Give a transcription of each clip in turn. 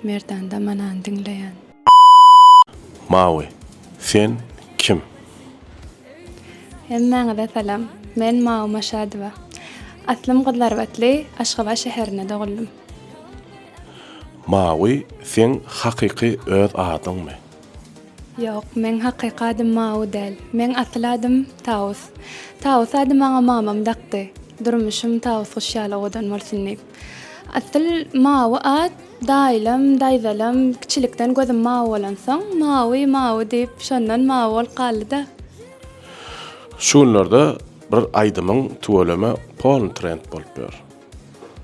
Merdanda manany diňleýän. Mawy, sen kim? Hemmäňize salam. Men Mawy Maşadowa. Aslym Gyzlarbatly, Aşgabat şäherinde doguldym. Mawy, seň hakyky öz adyňmy? Ýok, meň hakyky adym Mawy däl. Meň asyl adym Tawus. Tawus ady maňa mamam dakdy. Durmuşym Tawus guş ýaly owadan bolsun diýip. Asyl Mawy at daýylam, daýzalam kiçilikden gözüm mawy bolansoň, Mawy, Mawy diýip, şondan mawy bolup galdy-da. Şu günlerde bir aýdymyň tüweleme polny trend bolup ýör.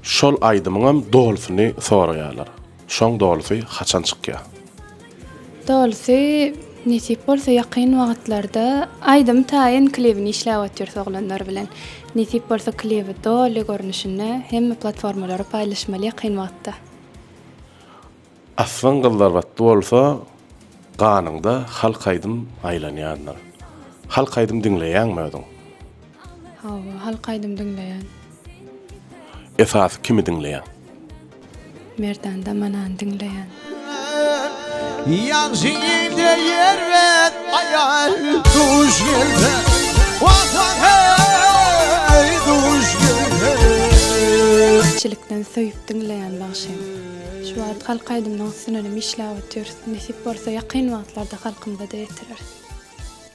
Şol aýdymyňam dolusyny soraýarlar. Şoň dolusy haçan çykýa. Dolusy nesip bolsa ýakyn wagytlarda aýdym taýyn klibini işläp otyrys oglanlar bilen. Nesip bolsa klibi doly görnüşinde hemme platformalara paýlaşmaly ýakyn wagtda. Aslyň gyzlarbatly bolsa ganyňda halk aýdym aýlanýandyr. Halk aýdym diňleýäňmi özüň? Hawa, halk aýdym diňleýän. Esasy kimi diňleýäň? Merdan Damanany diňleýän. Ýagşy ýigde ýer ber, aýal duş gelse. Wah wah heý, duş gelse. Kiçilikden söýüp diňleýän bagşym. Şu wagt halk aýdymynyň üstünenem işläp otyrys. Nesip bolsa ýakyn wagtlarda halkymyza-da ýetireris.